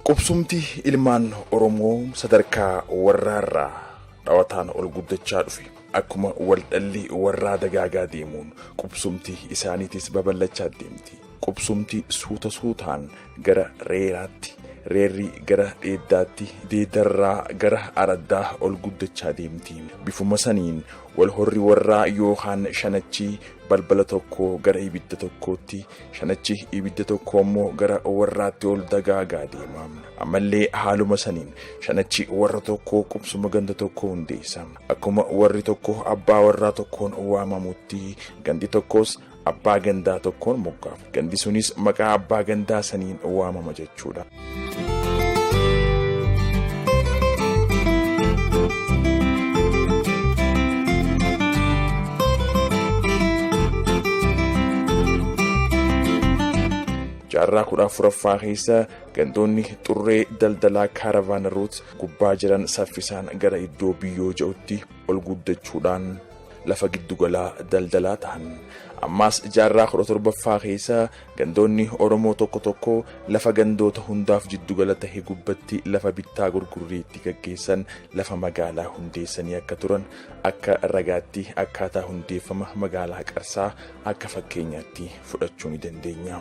Qubsumti ilmaan Oromoo sadarkaa warraarraa dhawataan ol guddachaa dhufe. Akkuma waldhalli warraa dagaagaa deemuun qubsumti isaaniitis babal'achaa deemti. Qubsumti suuta suutaan gara reeraatti, reerri gara dheeddaatti, deeddarraa gara araddaa ol guddachaa deemti. Bifuma saniin wal horri warraa yookaan shanachi balbala tokkoo gara ibidda tokkootti, shanachi ibidda tokkoo immoo gara warraatti ol dagaagaa deema. Ammallee haaluma saniin shanachi warra tokkoo qubsuma ganda tokkoo hundeessa. Akkuma warri tokko abbaa warraa tokkoon waamamutti gandi tokkos abbaa gandaa tokkoon moggaafamu. Gandi sunis maqaa abbaa gandaa saniin waamama jechuudha. jaarraa kudha afuraffaa keessa gandoonni xurree daldalaa kaaravaana ruut gubbaa jiran saffisaan gara iddoo biyyoo ja'utti ol guddachuudhaan lafa giddugalaa daldalaa tahan. Ammaas jaarraa 17ffaa keessa gandoonni Oromoo tokko tokko lafa gandoota hundaaf jiddugala tahe gubbatti lafa bittaa gurgurrii itti gaggeessan lafa magaalaa hundeessanii akka turan akka ragaatti akkaataa hundeeffama magaalaa Qarsaa akka fakkeenyaatti fudhachuu ni dandeenya.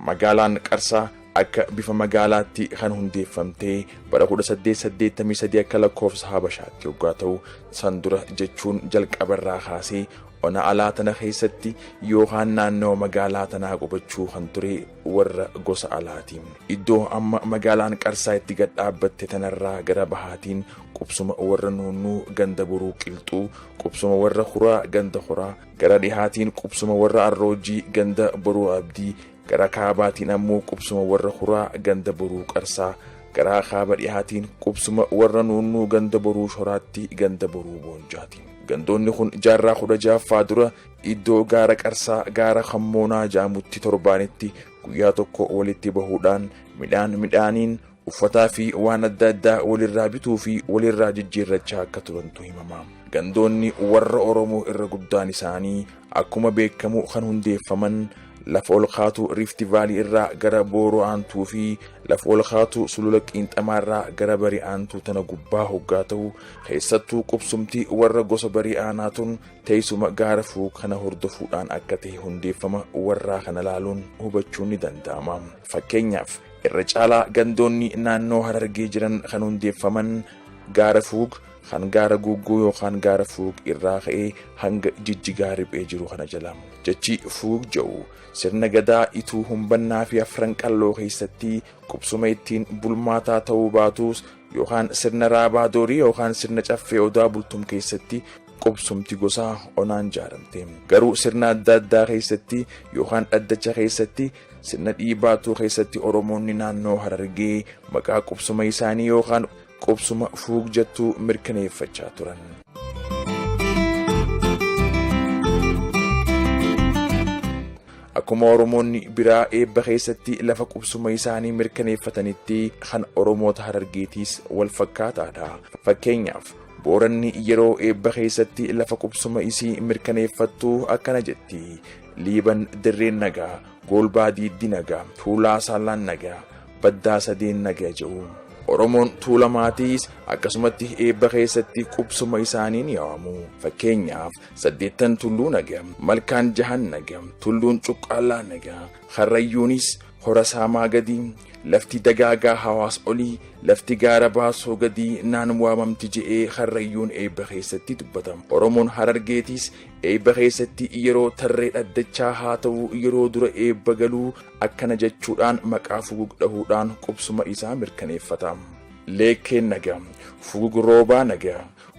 Magaalaan Qarsaa akka bifa magaalaatti kan hundeeffamtee bara 1883 akka lakkoofsa habashaatti yoggaa ta'u san dura jechuun jalqabarraa kaasee ona alaa tana keessatti yookaan naannawa magaalaa tanaa qubachuu kan ture warra gosa alaati. Iddoo amma magaalaan qarsaa itti gad dhaabbatte tanarraa gara bahaatiin qubsuma warra nuunnuu ganda buruu qilxuu qubsuma warra huraa ganda huraa gara dhihaatiin qubsuma warra arroojii ganda boruu abdii Gara kaabaatiin ammoo qubsuma warra huraa ganda boruu qarsaa, garaa kaaba dhihaatiin qubsuma warra nuunnuu ganda boruu shoraatti ganda boruu boonjaati. Gandoonni kun jaarraa kudha jaaffaa dura iddoo gaara qarsaa gaara kammoonaa jaamutti torbaanitti guyyaa tokko walitti bahuudhaan midhaan midhaaniin Uffataa fi waan adda addaa walirraa bituu fi walirraa jijjiirrachaa akka turantu himama. Gandoonni warra Oromoo irra guddaan isaanii akkuma beekamu kan hundeeffaman lafa ol kaatuu Riifti Vaalii irraa gara Booroo Aantuu fi lafa ol kaatuu Sulula Qiinxamaa irraa gara Bari Aantuu tana gubbaa hoggaa ta'u keessattuu qubsumti warra gosa Bari Aanaa tun teessuma gaara fuu kana hordofuudhaan akka ta'e hundeeffama warraa kana laaluun hubachuun ni danda'ama. Fakkeenyaaf Irra caalaa gandoonni naannoo Harargee jiran kan hundeeffaman gaara fuug kan gaara guugguu yookaan gaara fuug irraa ka'ee hanga jijjigaa riphee jiru kana jala. Jechi fuug ja'u sirna gadaa ituu humbannaa fi afran qalloo keessatti qubsuma ittiin bulmaataa ta'uu baatuus yookaan sirna raabaa doorii yookaan sirna caffee odaa bultum keessatti qubsumti gosaa onaan jaaramte. Garuu sirna adda addaa keessatti yookaan dhaddacha keessatti Sirna dhiibaatuu keessatti Oromoonni naannoo Harargee maqaa qubsuma isaanii yookaan qubsuma fuug jettu mirkaneeffachaa turan. Akkuma Oromoonni biraa eebba keessatti lafa qubsuma isaanii mirkaneeffatanitti kan Oromoota Harargeetiis wal fakkaataadha. Fakkeenyaaf Booranni yeroo eebba keessatti lafa qubsuma isii mirkaneeffattu akkana jetti. Liiban dirreen nagaa, Goolbaa diiddi nagaa, Tuulaa saallaan nagaa, Baddaa sadeen nagaa jedhu. Oromoon Tuulamaatiis akkasumatti eebba keessatti qubsuma isaanii ni waamu. Fakkeenyaaf saddeettan tulluu nagaa, malkaan jahan nagaa, tulluun cuqqaallaa nagaa, karrayyuunis hora saamaa gadii, lafti dagaagaa hawaas olii, lafti gaara baasoo gadii naan waamamti je'ee karrayyuun eebba keessatti dubbatama. Oromoon Harargeetiis Eebba keessatti yeroo tarree dhaddachaa haa ta'u yeroo dura eebba galuu akkana jechuudhaan maqaa fugug dhahuudhaan qubsuma isaa mirkaneeffata. Leekkeen naga, fugug roobaa naga,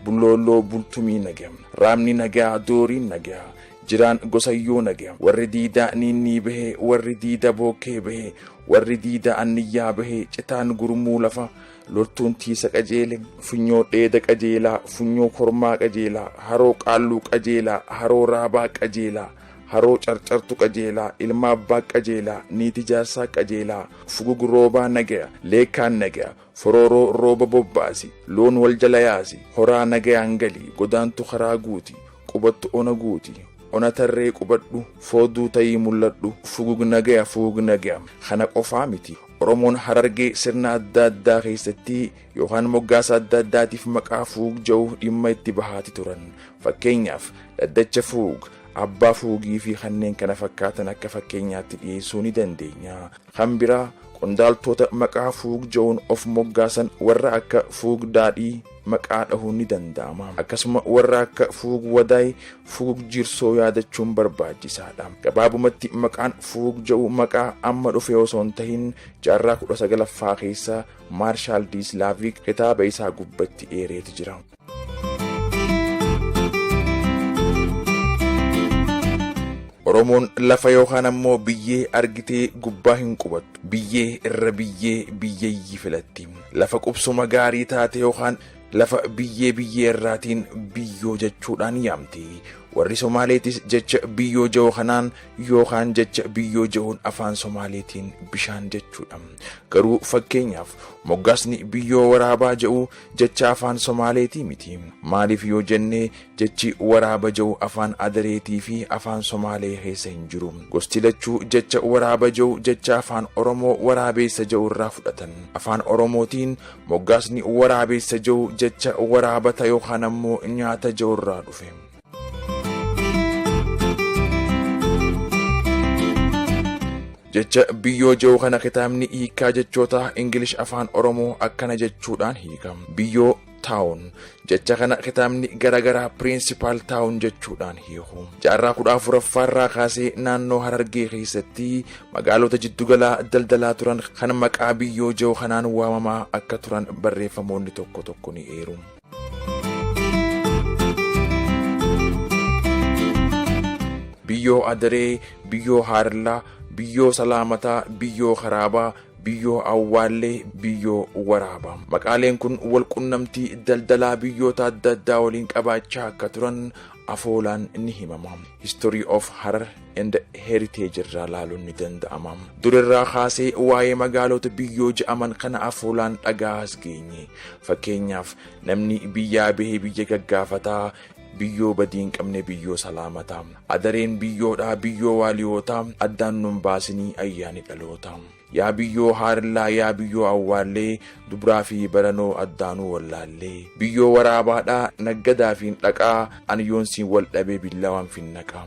bulloolloo bultumii naga, raabni nagaa dooriin naga, jiraan gosayyoo naga, warri diidaa niinnii bahe, warri diida bookkee bahe, warri diida anniyyaa bahe, citaan gurmuu lafa, loltuun tiisa qajeele funyoo dheeda qajeelaa funyoo kormaa qajeelaa haroo qaalluu qajeelaa haroo raabaa qajeelaa haroo carcartu qajeelaa ilma abbaa qajeelaa niiti jaarsaa qajeelaa fugug roobaa nagaya leekkaan nagaya forooroo rooba bobbaasi loon wal jala yaasi horaa nagayaan galii godaantu karaa guuti qubattu ona guuti ona tarree qubadhu fooduu tayii mul'adhu fugug nagaya fugug nagaya kana qofaa miti Oromoon Harargee sirna adda addaa keessatti yookaan moggaasa adda addaatiif maqaa fuug ja'u dhimma itti bahaati turan. Fakkeenyaaf dhaddacha fuug, abbaa fuugii fi kanneen kana fakkaatan akka fakkeenyaatti dhiyeessuu ni dandeenya. Kan biraa qondaaltoota maqaa fuug ja'uun of moggaasan warra akka fuug daadhii, maqaa dhahuun ni danda'ama. Akkasuma warra akka Fuug Wadaay, Fuug Jirsoo yaadachuun barbaachisaadha. Gabaabumatti maqaan Fuug ja'u maqaa amma dhufe osoo hin tahin jaarraa kudha sagalaffaa keessa Maarshaal Diislaaviik kitaaba isaa gubbatti eereeti jira. Oromoon lafa yookaan ammoo biyyee argitee gubbaa hin qubattu. Biyyee irra biyyee biyyayyi filatti. Lafa qubsuma gaarii taate yookaan lafa biyyee biyyee irraatiin biyyoo jechuudhaan yaamti. Warri Somaaleetis jecha biyyoo ja'u kanaan yookaan jecha biyyoo ja'uun afaan Somaaleetiin bishaan jechuudha. Garuu fakkeenyaaf moggaasni biyyoo waraabaa ja'u jecha afaan Somaaleetii miti. Maaliif yoo jennee Jechi waraaba ja'u afaan Adareetii fi afaan Somaalee keessa hin jiru. Gosti lachuu jecha waraaba ja'u jecha afaan Oromoo waraabeessa ja'u irraa fudhatan. Afaan Oromootiin moggaasni waraabeessa ja'u jecha waraabata yookaan ammoo nyaata ja'u irraa dhufe. Jecha biyyoo ja'u kana kitaabni hiikkaa jechootaa Ingilish afaan Oromoo akkana jechuudhaan hiika. Biyyoo taawun jecha kana kitaabni garagaraa piriinsipaal taawun jechuudhaan hiiku jaarraa kudha afuraffaa irraa kaasee naannoo harargee keessatti magaalota jiddugalaa daldalaa turan kan maqaa biyyoo jiru kanaan waamamaa akka turan barreeffamoonni tokko tokko ni eeru. biyyoo adaree biyyoo haarillaa biyyoo salaamataa biyyoo karaabaa Biyyoo Awwaallee, Biyyoo Waraabaa. Maqaaleen kun walqunnamtii daldalaa biyyoota adda addaa waliin qabaachaa akka turan afoolaan ni himama. History of Harar and Heritage irraa laaluun ni danda'ama. Durirraa kaasee waa'ee magaalota biyyoo ja'aman kana afoolaan dhaga'aas geenye. Fakkeenyaaf namni biyyaa bahee biyya gaggaafataa, Biyyoo badii hin qabne biyyoo salaamataa. Adareen biyyoodhaa biyyoo waaliyootaa addaan nun baasinii ayyaani dhaloota. Yaa biyyoo haarillaa yaa biyyoo awwaallee dubraa fi baranoo addaanuu wallaallee. Biyyoo waraabaadhaa naggadaafiin dhaqaa ani yoon siin wal dhabee billawaan finnaqaa.